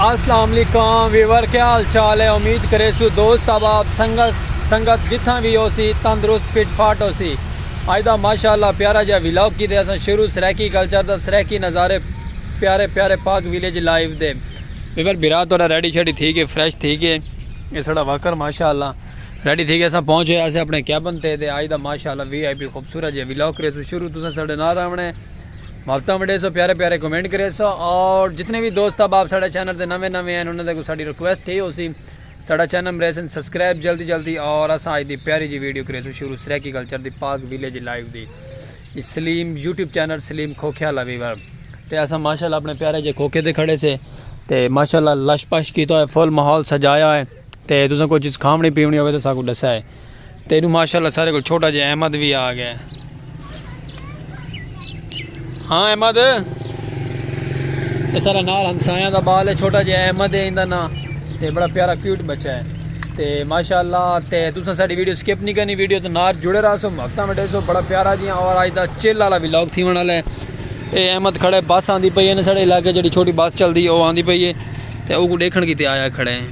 السلام علیکم ویور کیا حال چال ہے امید کرے سو دوست احباب سنگت سنگت جتھاں بھی ہو سی تندرست فٹ فاٹ ہو سی اج دا ماشاءاللہ پیارا جا ویلاگ کی دے اساں شروع سرائیکی کلچر دا سرائیکی نظارے پیارے پیارے پاک ویلیج لائیو دے ویور بھرا تورا ریڈی شیڈی تھی گئے فریش تھی گئے یہ سڑا واکر ماشاءاللہ ریڈی تھی گئے اساں پہنچ ہوئے اسے اپنے کیبن تے تے آج دا ماشاءاللہ وی آئی پی خوبصورت جے ویلاگ کرے سو شروع تساں ساڑے نال آونے محبتاں وڈے سو پیارے پیارے کمنٹ کرے سو اور جتنے بھی دوست اب آپ ساڑے چینل تے نویں نویں ہیں انہوں نے کو ساڑی ریکویسٹ ہی ہو سی ساڑا چینل مرے سن سبسکرائب جلدی جلدی اور اساں آج دی پیاری جی ویڈیو کرے سو شروع سریکی کلچر دی پاک ویلیج لائیو دی سلیم یوٹیوب چینل سلیم کھوکھیا لویور تے اساں ماشاءاللہ اپنے پیارے جے کھوکھے دے کھڑے سے تے ماشاءاللہ لش پش کیتا ہے فل ماحول سجایا ہے تے تساں کوئی چیز کھاونی پیونی ہوے تے ساکوں ڈسا ہے تے اینو ماشاءاللہ سارے کو چھوٹا جے احمد بھی آ گیا ہاں احمد اے سارا نال ہمسایاں دا بال ہے چھوٹا جے احمد ہے ایندا نا تے بڑا پیارا کیوٹ بچہ ہے تے ماشاءاللہ تے تساں ساڈی ویڈیو سکپ نہیں کرنی ویڈیو تے نال جڑے رہا سو ہفتہ وڈے سو بڑا پیارا جی اور اج دا چل والا ولاگ تھیون والا ہے اے احمد کھڑے بس آندی پئی ہے ساڈے علاقے جڑی چھوٹی بس چلدی او آندی پئی ہے تے اوکوں ڈیکھن کیتے آیا کھڑے ہیں۔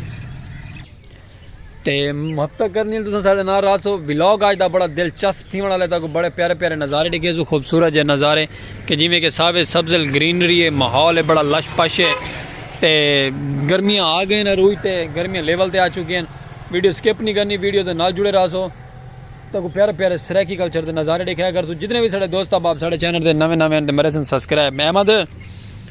تے محبتہ کرنی ہیں تساں سارے نال راسو ولاگ آج دا بڑا دلچسپ تھیون والے تاکو بڑے پیارے پیارے نظارے ڈیکھے سو خوبصورت جے نظارے کہ جویں کہ ساوے سبزل گرینری ہے ماحول ہے بڑا لش پش ہے تے گرمیاں آ گئے ہیں روئی تے گرمیاں لیول تے آ چکے ہیں ویڈیو سکپ نہیں کرنی ویڈیو دے نال جڑے راسو تاکو پیارے پیارے سرائیکی کلچر دے نظارے ڈیکھے اگر تو جتنے بھی سارے دوست احباب سارے چینل دے نویں نویں ہیں تے مرے سن سبسکرائب احمد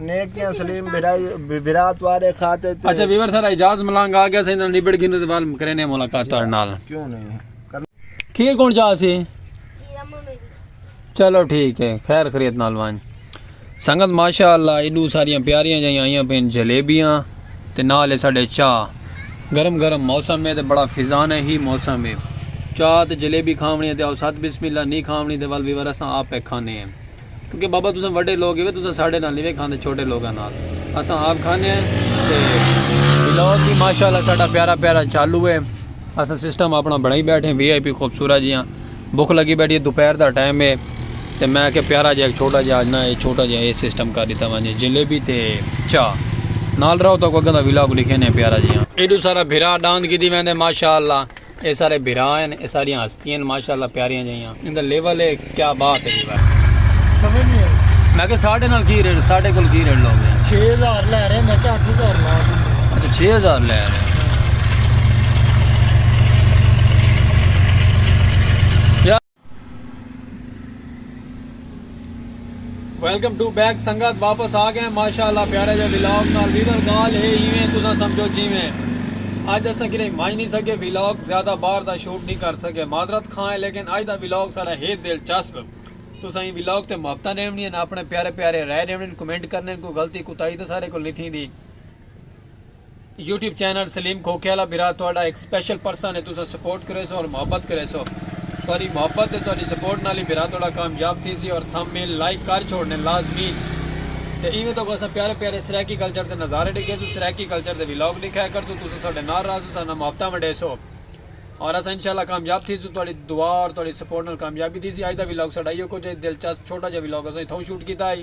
نیکیاں سلیم بھرا توارے خاطر تے اچھا ویور سارا اجاز ملانگ آ گیا سائیں نال نبڑ گھن تے وال کرینے ملاقات تہاڈے نال کیوں نہیں کھیر کون جا سی چلو ٹھیک ہے خیر خرید نال وان سنگت ماشاء اللہ ایڈو ساریاں پیاریاں جائیں آئیاں پین جلیبیاں تے نال ساڈے چاہ گرم گرم موسم ہے تے بڑا فضان ہے ہی موسم ہے چاہ تے جلیبی کھاونی ہے تے او سات بسم اللہ نہیں کھاونی تے ول ویور اساں آپ کھانے ہیں کیونکہ بابا تساں وڈے لوگ ہیوے تساں ساڈے نال نیوے کھاندے چھوٹے لوگاں نال اساں آپ کھانے ہیں تے ولاگ بھی ماشاءاللہ ساڈا پیارا پیارا چالو ہے اساں سسٹم اپنا بنائی بیٹھے ہیں وی آئی پی خوبصورت جیاں بھوک لگی بیٹھی ہے دوپہر دا ٹائم ہے تے میں کہ پیارا جا ایک چھوٹا جا نہ اے چھوٹا جا اے سسٹم کر دیتا ونجے جلیبی تے چاہ نال رہو تو اگوں دا ولاگ لکھے نے پیارا جیاں ایڈو سارا بھرا ڈاند کیتی ویندے ماشاءاللہ اے سارے بھرا ہن اے ساریاں ہستیاں ہن ماشاءاللہ پیاریاں جیاں ایندا لیول ہے کیا بات ہے جی سمجھ نہیں آئی میں کہ ساڑھے نال کی ریٹ ساڑھے کول کی ریٹ لوگ 6000 لے رہے میں کہ 8000 لا اچھا 6000 لے رہے ویلکم ٹو بیک سنگت واپس آ گئے ماشاءاللہ پیارے جے ویلاگ نال ویدر گال ہے ایویں تساں سمجھو جیویں اج اساں کنے مائی نہیں سکے ویلاگ زیادہ باہر دا شوٹ نہیں کر سکے معذرت کھاں ہے لیکن اج دا ویلاگ سارا ہے دلچسپ تساں ہی ویلاگ تے محبتہ دیونی ہیں اپنے پیارے پیارے رائے دیونی ہیں کمنٹ کرنے ہیں کوئی غلطی کوتاہی تے سارے کو نہیں تھی دی یوٹیوب چینل سلیم کھوکھے والا برا تہاڈا ایک سپیشل پرسن ہے تساں سپورٹ کرے سو اور محبت کرے سو تہاڈی محبت تے تہاڈی سپورٹ نال ہی برا تہاڈا کامیاب تھی سی اور تھم میل لائک کر چھوڑنے لازمی تے ایویں تو اساں پیارے پیارے سرائیکی کلچر دے نظارے ڈیکھے سو سرائیکی کلچر دے ولاگ ڈیکھایا کر سو تساں ساڈے نال رہا سو ساڈے نال محبتاں ونڈے سو اور اساں انشاءاللہ کامیاب تھی سو تہاڈی دعا اور تہاڈی سپورٹ نال کامیابی تھی سی اج دا ولاگ ساڈا ایو کچھ ہے دلچسپ چھوٹا جا ولاگ اساں اتھاں شوٹ کیتا ہے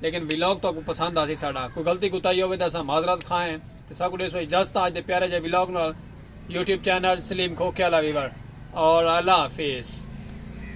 لیکن ولاگ تہاکوں پسند آسی ساڈا کوئی غلطی کوتاہی ہووے تاں اساں معذرت خواہ ہیں تے ساکوں ڈیسو اجازت آج دے پیارے جے ولاگ نال یوٹیوب چینل سلیم کھوکھے آلا ویور اور اللہ حافظ۔